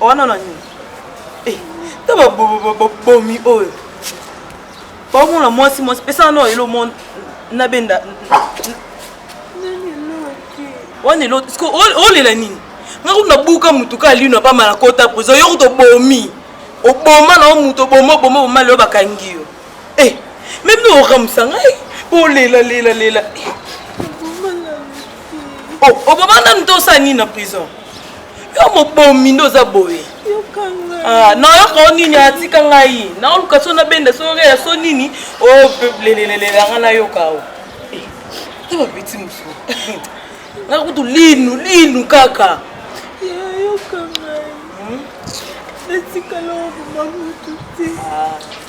wana na nini eh, ta babomi oyo baomona mwasi mwasi pesa wana elo monde na benda wana elo olela nini nga kutu nabuka motu ka lino apama na kota prison yo kutu obomi oboma na yo motu oboma oboma oboma lelo bakangi yo Eh, meme no okamwisa ngai olela lela lela oh, oboma nanu to osala nini na prison yo mobomi nde oza boye ah, nayoka o nini atika ngai naoluka so nabenda so oreya so nini olelelelela oh, ngai nayoka o eh, ta bapeti mosusu ngai kutu linu linu kaka nayoka ngai hmm? natikala oboma motu te ah.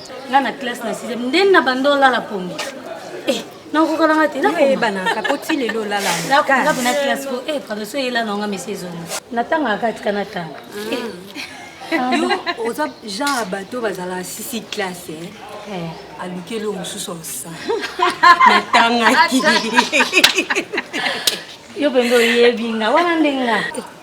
nga na classe na sixième nde na banda olala pongi eh, nakokala nga te nayebanaka po ti lelo olalanga pona classe po e pardon so eyela na nga mesi ezonga natangaka katika natanga ah. eh. yo oza genre ya bato bazalaka sisi classe eh? eh. aluki eloko mosusu osa natangaki yo mpenza oyebi nga wana ndenge nga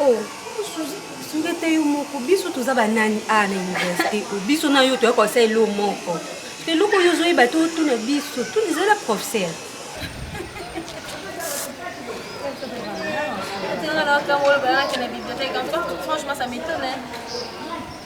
Oh, sungete yo moko biso toza banani a ah, na université o oh, biso na yo toyaka kosala elo moko to eloko oyo ozoyeba to otuna biso tuna ezala professeur Franchement, ça m'étonne.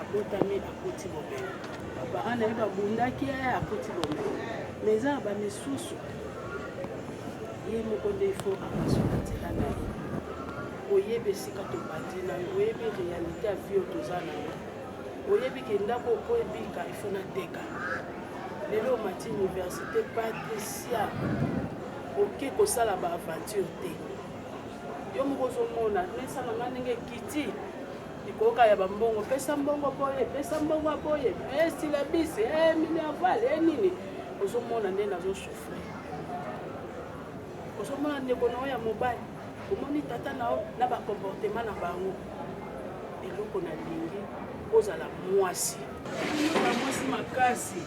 abotami akoti bomengo bapara na ye babundaki ye akoti bomengo ma eza na bamisusu ye moko nde ifo apasuka nzela na ye oyebi esika tobandi na yo oyebi réalité ya vie oyo toza na yo oyebi ke ndako oko ebika ifo nateka lelo omati université patricia oke kosala baaventure te yo moko ozomona mesa na ngai ndenge ekiti Likoka ya bambongo, pesa mbongo boye, pesa mbongo ya boye, esilabisi eh, e eh, minerval e eh, nini, ozomona nde nazosufri, ozomona ndeko na yo ya mobali, omoni tata na yo na bakomportema na bango. Eloko na lingi ozala mwasi, na mwasi makasi,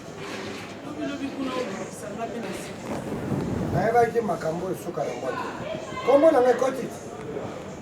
lobilobi kuna obisanga mpe na sika nayebaki makambo oyo esuka na moto kombo na ngai kotiti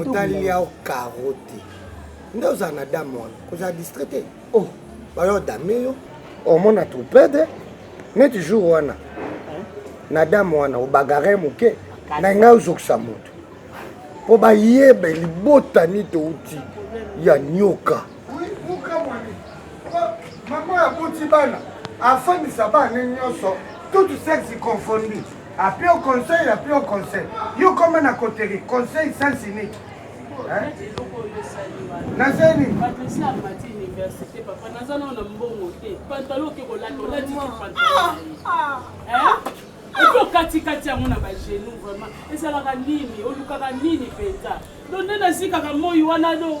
otali yao karo te nde ozala na dame wana kozala distrait te oh. bayo dame yo omona trupede neti jour wana na dame wana obagare moke na ngai ozokisa moto mpo bayeba libota niti outi ya nyoka Oui, bokamwani. Mama aboti bana, afandisa bana nyonso, tout sexe confondu. Appeler au conseil, appeler au conseil. Yo comment na coterie, conseil sens unique. Hein? Naza nini? université papa naza nao na mbongo te pantalo oke kolata olatiki pantalo epi okatikati yango na bagenu vraiment ezalaka nini olukaka nini mpenza do nde nazikaka moi wana do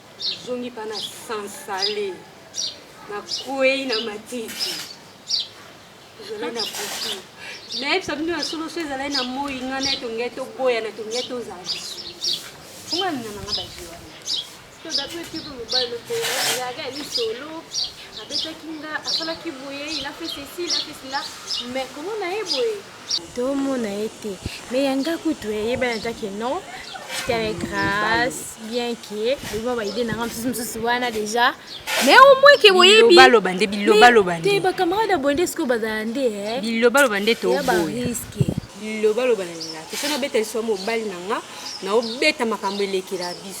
Zongi pa na sansale na kwei na matiti ezalai na butu nayebisa bino ya solo so ezalai na moi nga na etongai toboyana tongai tozala fonga mina nanga bazi wana todapetipolobalokoyaka ya lisolo abetaki nga asalaki boye ilafe ceci ilafe cela mais komona ye boye tomona ye te mais ya nga kutu eyebani eh, ata ke non tere grâce bien ke loba baide na nga mosusu mosusu wana déjà mais au moins ke boyebilobaloba nde bilobaloba nde ba camarade ya boye nde sikoyo bazala nde eh. bilobaloba nde tobariske bilobaloba na linga tosana beta liswa mobali na nga naobeta makambo elekela biso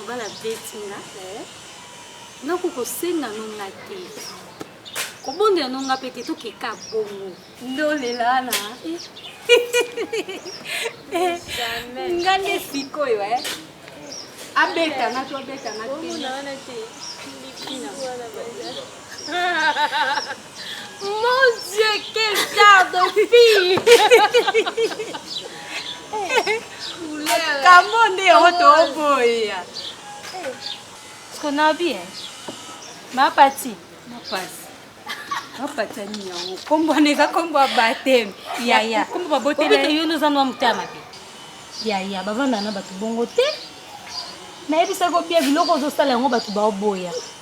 Obala beti nga eh. nga kokosenga no nga te kobondela no nga mpe te tokeka bongo ndolelana eh. eh, nga nde sikoyo e abeta nga to abeta nga te Mon Dieu, quel genre de fille Kambo nde yango toboya. Siko na bien. Ma pati. Ma pasi. Ma pati ani yango. Kombo na eza kombo ya bateme. Ya ya. Kombo ba botele. Obito yo noza nwa mutama pe. Ya ya bavanda na bato bongo te. Nayebisa ko bien biloko ozosala yango bato baoboya.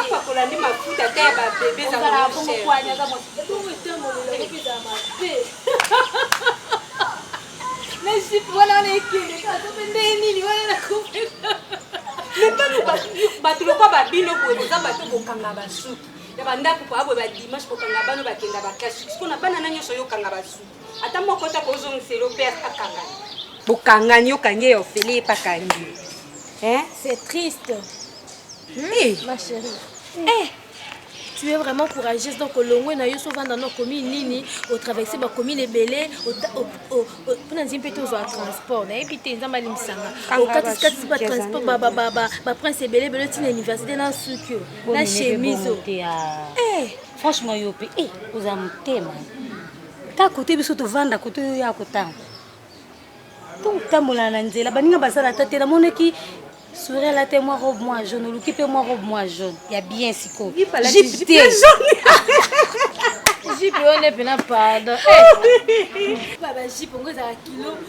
apakola nde mafuta ata ya babebe wana wana ekende nde nini wana nakopeka mepano bato lokwa babino boye boza bato bokanga basuki ya bandako po aboye badimanche kokanga bano bakenda baklasi siko na bana na nyonso oyokanga basuki Ata moko ta kozongisa elo pe akangani. Bokangani okangi yo ofele epa kangi. Hein? C'est triste. Hmm? Hey. Ma chérie. Hey. Eh. Eh. tu es vraiment courageuse donc olongwe na yo sovanda na commune nini otraverse bacommune ebele mpona nzii mpe tozwa transport nayebi te nzambe alimbisanga okatikatisi batransport baprince ebele ebele ntina université na suki yo na chemise franchement yo mpe oza motema ta kote biso tovanda kote oyo ya kotanga totambola na nzela baninga bazala ata te namonaki souri ala te mwa robe mwa jaune oluki mpe mwa robe mwa jaune ya bien sikoyo jipe te jipe wana mpena pardon bajipe yango ezala kilo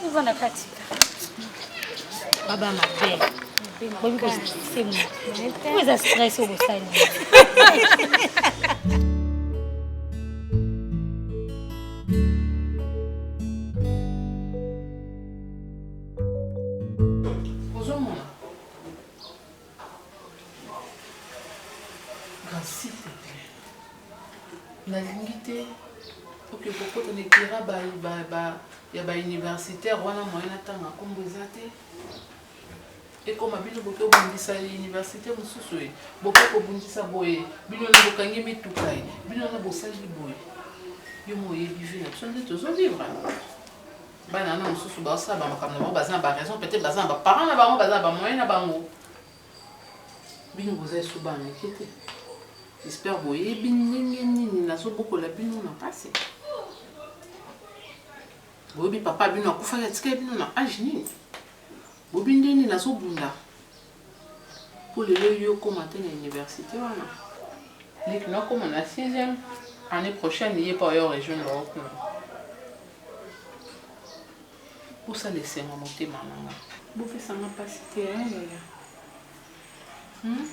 Tovanda kati. Baba mabe. Bobi ko stresse mo. Ko eza stresse au bosani. nalingi te oke kokota na etera ya bauniversitaire wana moye natanga nkombo eza te ekoma bino boke obundisa université mosusu e boke kobundisa boye bino na bokangi mituka e bino na bosali boye yo moyebi vi na biso nde tozovivre bana na mosusu baosala bamakambo na bango baza na baraison peut-être baza na baparent na bango baza na bamoyen na bango bino boza esu bana eke te espere boyebi ndenge nini nazobokola bino na mpasi boyebi papa bino akufaki atikali bino na age nini boyebi ndenge nini nazobunda Po lelo yo okoma te na universite wana ye kino akoma na sixième annee prochaine ye pe oya o rejoindre yo kuna bosala esengo ya motema na nga. Bopesa nga pasi te hein yaya hum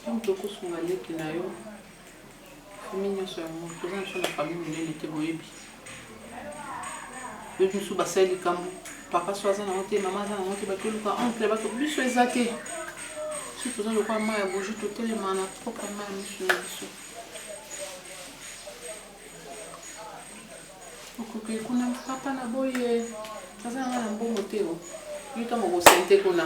yo mutu okosunga leki na yo. famille nyonso yango toza na biso na famille monene te boyebi boyebi mosusu basali likambo papa so aza nango te mama aza nango te batoluka oncle bato biso eza te biso toza lokola mai ya boji totelema na propre mai ya miso na biso okoki kuna papa na boye aza nanga na mbongo te yo ntango okosente kuna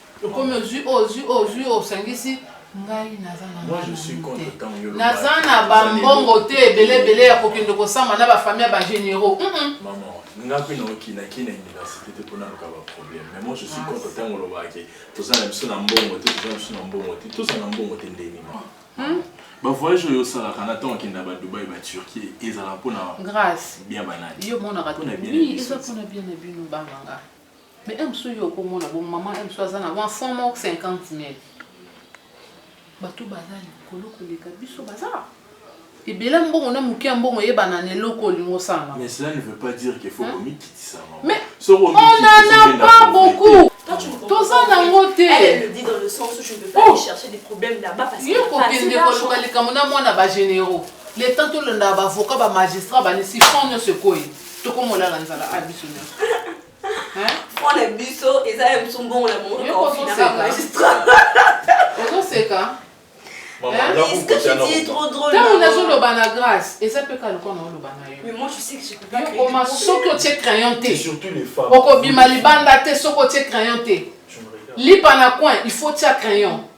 okomi ozwi oyo ozwi oyo ozwi oyo osangisi ngai naza na Moi, je suis mbongo contre te ntango yo naza olobaki. na bambongo te ebele ebele ya kokende kosamba na bafamille ya bagénéraux Mm-mm. Maman, nga mpe naoki naki na université te mpo naluka baproblème mais moi je suis contre ntango olobaka ke toza na biso na mbongo te toza na biso na mbongo te toza na mbongo te ndeni ma bavoyage oyo osalaka na ntango okenda badubai baturquie ezala mpo na grace bien banani yo monaka Mpo na bien na oui biso. eza mpona bien na bino banganga Mais un monsieur yo ko mona bon maman un monsieur aza na wa fond mort 50000. Bato baza likolo ko leka biso baza. Ebele mbongo na muke mbongo yeba na neloko lingo sana. Mais cela ne veut pas dire qu'il faut komi kitisa maman. Mais on n'en a pas beaucoup. toza nango te yokokende koluka likambo na mwana bagénéraux le temps tolondaa bavoka bamagistrat banisi fond nyonso ekoi tokomona na nzala a biso nyonso mpo na biso eza ya biso mbongo na mongoozoseka ntango nazoloba na grâce eza mpe kaka lokola naoloba na yookoma soki otie crayon te okobima libanda te soki otie crayon te lipa na coin il faut tia crayon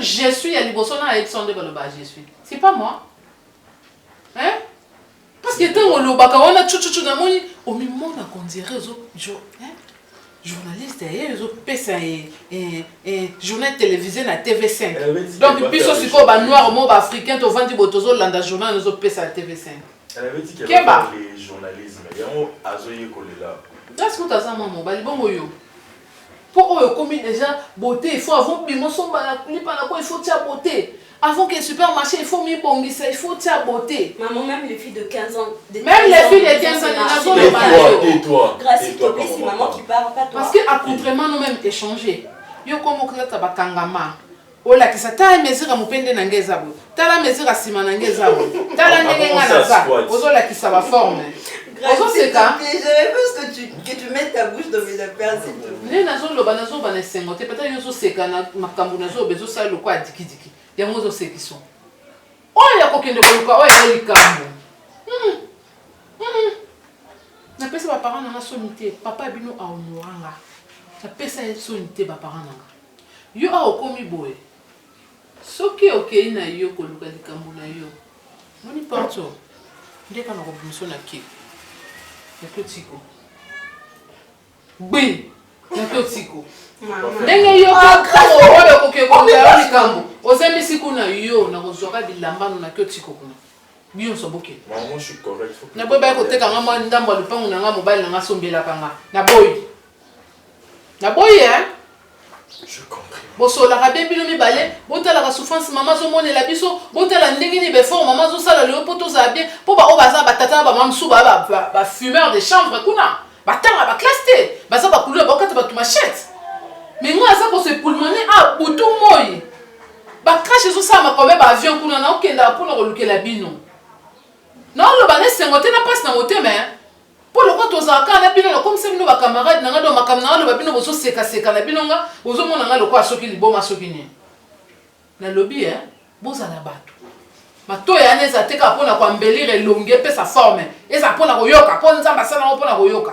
je suis ya liboso na ayebisa nde baloba je suis c'est pas moi hein parce que ntango olobaka wana cucucu namoni omimona kondire ezo journaliste ye ezopesa ye eh, eh, journal télévisé na tv5 eh, donc biso sikoyo banoir mo baafricain tovandi boye tozolanda journal ezopesa ya tv5 Keba. Grace kutu aza mwa mobali bongo yo po oyo okomi deja beauté il faut avant bima osomba na lipa na ko il faut tia beauté avant que supermarché il faut mibongisa il faut tia beauté maman même les filles de 15 ans de même les filles de 15 ans na zo le balio Grace to pesi maman qui parle pas toi parce que à contrairement nous même échanger yo comme okata bakangama Olakisa tala mesure ya mupende na ngai eza boye tala mesure ya sima na ngai eza boye tala ndenge ngai naza ozolakisa ba forme ozoseka nde nazoloba nazoloba na esengo te peut-être yo ozoseka na makambo nazoloba ezosala lokwa ya dikidiki yango ozosekisa oyo ya kokende koluka oyo eza likambo hmm. Hmm. napesa baparent nanga soni te papa bino aonoranga napesa ye soni te baparent nanga Yo awa okomi boye soki okeyi na yo koluka likambo na yo moni porto nde kaka kobimiso na ke na totiko gbi na totiko ndenge yo oyo okoki koluka yo likambo ozemisi kuna yo na kozwaka bilamba no na totiko kuna bionso bokende naboyi baya kotekanga mwa ndambo ya lopango na nga mobali na nga asombelaka nga naboyi Na boyi hein. Bosolaka bien bino mibale, botalaka souffrance mama azomonela biso, botala ndenge nini befort mama azosala lelo mpo tozala bien, mpo baoyo baza batata na bamama mosusu ba, ba, ba, ba fumeur de chambre kuna batanga baklasse te, baza bakuluna bakokata bato machete me ngai aza kose pulmone a ah, butu moi bakrashe ezosala makobe baavion kuna naokendaka mpo na kolukela bino naoloba na esengo te na mpasi na motema Po lokola tozalaka kaka na bino, nakomisa bino ba camarades na ngai, donc makambo na loba bino bozo seka seka na bino, nga bozo mona nga lokola soki liboma soki nini. Na lobi eh bozala batu. Matoyi wana ezala te kaka pona ko embellir elongi, epesa forme, ezala pona koyoka po Nzambe asala yango pona koyoka.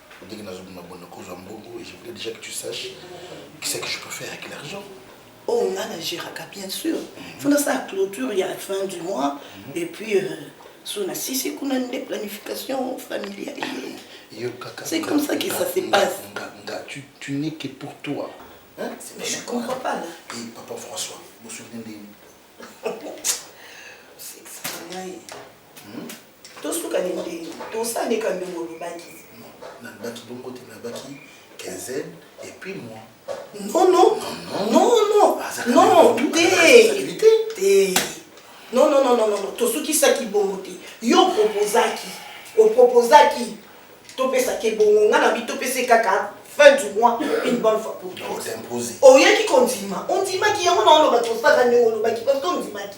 ndenge nazobima bona kozwa mbongo je voulais déjà que tu sache qui c'est que je peux faire avec l'argent oh nga na géraka bien sûr fo nasala clôture ya fin du mois et puis euh, so na sisi kuna nde planification familiale yo kaka c'est comme ça que ça se passe nga nga tu tu n'es que pour toi hein Mais je comprends pas là. et papa François vous vous souvenez de C'est extraordinaire. Tosuka nini te tosala ndeka ndenge olobaki. Nalobaki bongo te, nalobaki quinzaine et puis moi. Non non non non non te te non non non non tosukisaki bongo te yo opropozaki opropozaki topesaki ebongo ngai na bi topesi kaka fin du mois une bonne fois pour toutes oyaki kondima ondimaki yango na oloba tosaka ndenge olobaki parce que ondimaki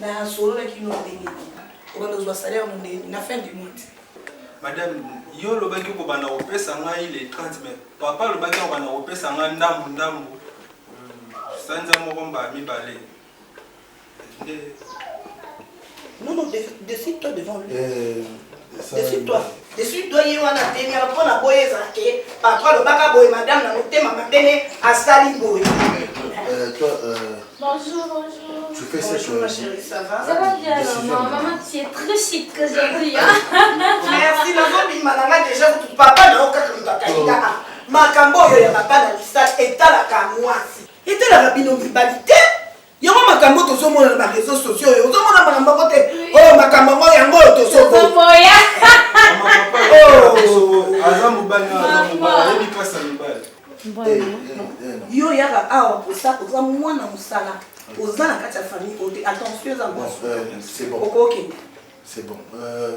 Na solola kino ndenge nini? Obanda kozwa salaire no ndenge nini? Na fin du mois te. Madame, yo olobaki okobanda kopesa ngai le 30 mai. Papa alobaki akobanda kopesa ngai ndambu ndambu sanza moko mbala mibale. Nde. Non, non, décide-toi devant lui. Euh... Esui toi ye wana te miaka mpo na boye ezala ke patro alobaka boye madame na motema mabe ne asali boye. Euh, toi, euh, Bonjour, bonjour. Tu fais cette Bonjour, ma chérie, ça va Ça va bien, maman. Maman, tu es très chic aujourd'hui. Hein? Merci, maman. Bimalanga, déjà, tu papa, na oka comme papa. Makambo, yo, ya papa, na misal, et à la kamoisi. Et à la rabino, mibalité. yango makambo oyo tozomona na bareseau sociaux oyo ozomona makambo yango te oyo makambo yango yango oyo tozoboya aza mobali aza mobali ayebi mpasi ya mibali eh, eh, eh, yo yaka awa oza mwana mosala oza na kati ya famille oyo te attention eza okokende c'est bon euh,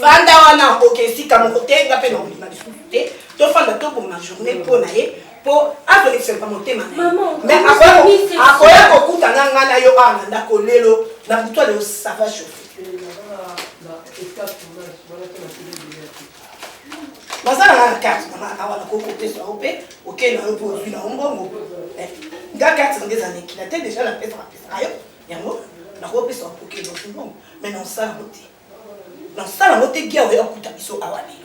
fanda wana oke esika moko te nga mpe nakolima lisusu te tofanda toboma journée mpo na ye mpo azolekisaka motema mais akoya kokuta nga nga na yo awa na ndako lelo na butu aleo sava chauffe baza na nga karte na nga awa nakoki kopesa yo mpe okei na yo mpo ozwi na yo mbongo nga karte na nga eza nekila te deja napesa napesaka yo yango nakoki pesa bapoke lofungo me nasala yango te nasala yango te gia oya kuta biso awa lelo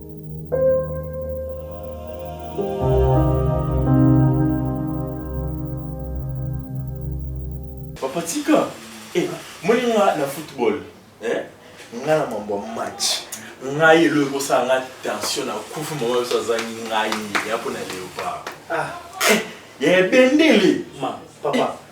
Papa Tika, eh, moni nga na football, eh, nga na mambo ya match. Ngai elo ekosala nga tension na kufu mama biso azangi ngai ya mpo na leopard. Ah, eh, ya ebendele. Ma, papa. Eh,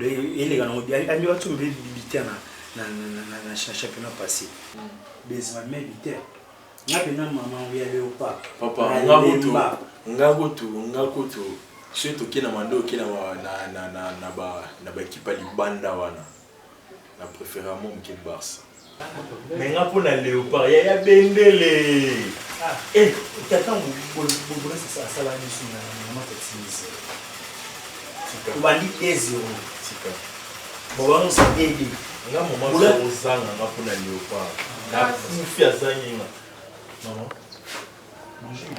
eleka nango bien andi watu mbe biter na na na na championnat passé Benzema me biter nga pena mama ya leopard papa nga kutu nga kutu nga kutu soki toke na mando oke na na na na ba na ba ekipa libanda wana na préfère mo mke barça Mais nga mpo na leopard ya ya bendele ah, eh, tata bobrese sa asala biso na mama tatinise obandi 2 0 bobango sa ede nga mama ozanga nga mpo na leopard nakufi azangi nga mama bonjour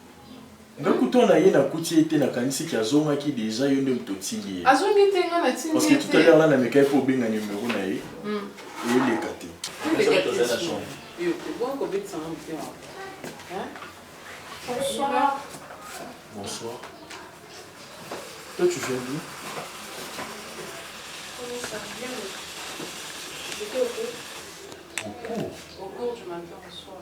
Nga kutu na ye nakuti ye te nakanisi ke azongaki dejà yo nde moto otindi ye. Azongi te nga natindi ye te. Parce que tout à l'heure là namekaki po obenga numero na ye eleka te. Bonsoir. Bonsoir. Toi tu viens d'où? Au cours. Au cours du matin au soir.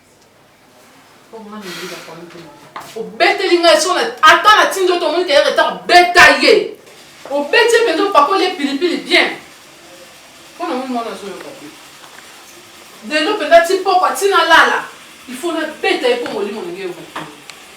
obeteli ngai so ata na tindi oto omoni keye retard beta ye obeti ye mpenza opakoli ye pilipili bien mpo na moni mwana azoyoka te lelo mpenza ti pokwa ntina lala il faut nabeta ye mpo molimo na ngai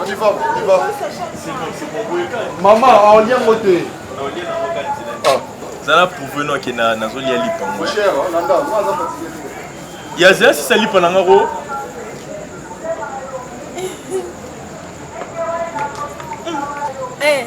On y va, on y va. Maman, on lia ngo te. Ah. Zala prouve no ke na nazo lia lipa ngo. Cher, oh, landa, moi za fatigué. Ya zela si sa lipa na ngako. Eh.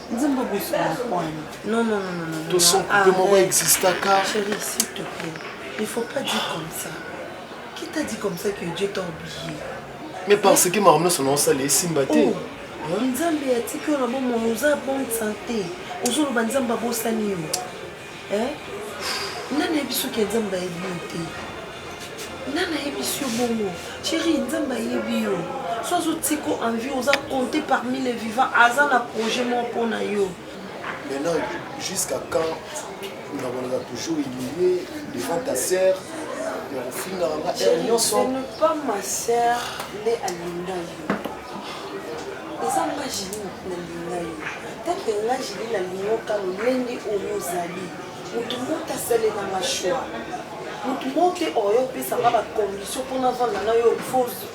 nzembo bosuakwani non non non non to son ah, coupe moko existaka chérie s'il te plaît il faut pas dire comme ça qui t'a dit comme ça que Dieu t'a oublié mais parce que makambo nyonso na osala esimba te oh, nzambe atiki yo na bomoi oza bonne santé ozoloba nzambe abosani yo Eh? Nani ayebi soki ya Nzambe ayebi yo te? Nani ayebi yo bongo? Chérie, Nzambe ayebi yo. So azotika en vie, oza compté parmi les vivants, aza na projet moko mpo na yo. Maintenant, jusqu'à quand nakolaka toujours humilié devant ta sœur ya kofingaka nga heure nyonso? Ce n'est pas ma sœur nde alinga yo. eza nga jili nalinga yo kaka nga jili nalingoka lolenge oyo ozali moto moto asalela mashwa moto moko te oyo opesanga bacondition mpona vanda na yo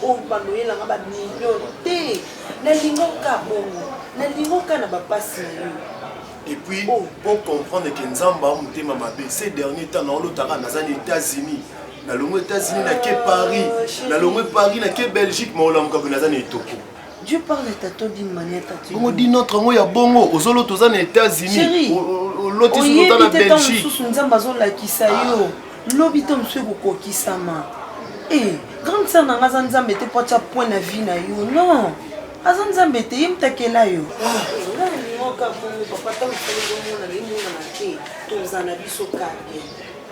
oyo baloyelanga bamillion te nalingoka bongo nalingoka na bapasi na yo et puis oh. pour comprendre que nzambe a motema mabe ces dernier temps naolotaka naza na états-unis nalongo états-unis nake paris oh, nalongo paris nake belgique maolamuka boye naza na etoko Dieu parle tata d'une manière tata. Bongo dit notre ngo ya bongo ozolo toza na États-Unis. Loti solo ta na Belgique. Susu nzamba zo lakisa yo. Lobi to mswe kokokisama. Eh, grande sœur nanga za nzambe te po tia point na vie na yo. Non. Aza nzambe te ye mtakela yo. Ngoka bongo papa tango tozomona le mona te. Toza na biso kaka.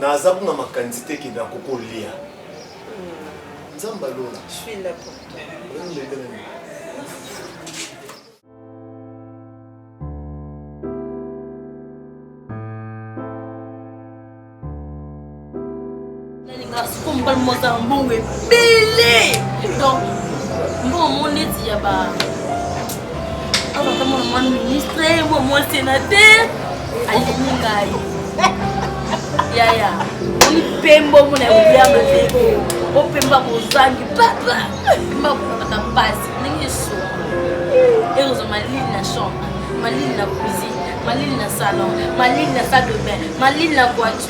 Naza kuna makanisi te ke nako kolia. Nzambe alola. Je suis là pour toi. nalingaka siko mobali moko azala mbongo ebele donc mbongo mo neti ya ba azaka mwana mwa ministre mwa mwa sénateur alingi ngai yaya oni pembo mona ya mabeko opemba bozangi papa pemba bozangaka mpasi ndenge esoa ekozwa malili na chambre malili na cuisine malili na salon malili na salle de bain malili na voiture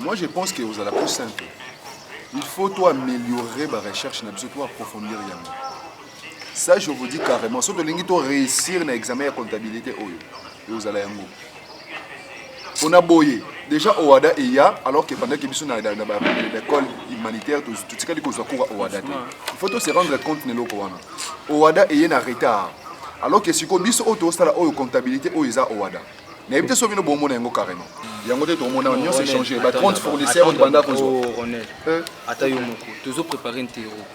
Moi je pense que vous allez plus simple. Il faut toi améliorer ma recherche, na biso toi approfondir yango. Ça je vous dis carrément, soki tolingi to réussir na examen ya comptabilité oyo, ekozala yango. pona boye Deja Owada eya alors que pendant que biso na l'école humanitaire totikali kozwa cours ya Owada te. Il faut to se rendre compte na eloko wana. Owada eye na retard. Alors que siko biso oyo tosala oyo comptabilité oyo eza Owada. nayebi te so bino bomona yango carrément yango te tokomona nyonso echange ba 30 fournisseur oyo tobanda kozwa ata yo moko tozo prépare ntero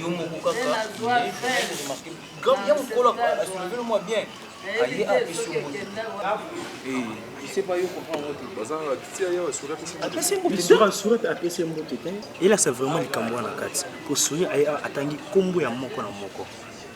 yo moko kaka ya mokolo asolevelo mwa bien aye apesi yo apesi mbote te elasa vraiment likambo wana kati mpo souri atangi nkombo ya moko na moko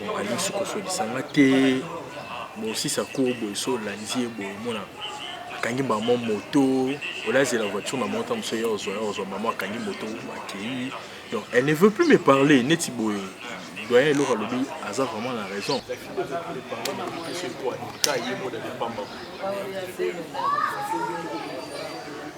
Bokanisi kosolisa nga te bosisa cour boye so olanzi ye boye omona akangi mama moto olazela voiture na mota mosusu ya ozwa ya ozwa mama akangi moto akei donc elle ne veut plus me parler neti boye doyen eloko alobi aza vraiment na raison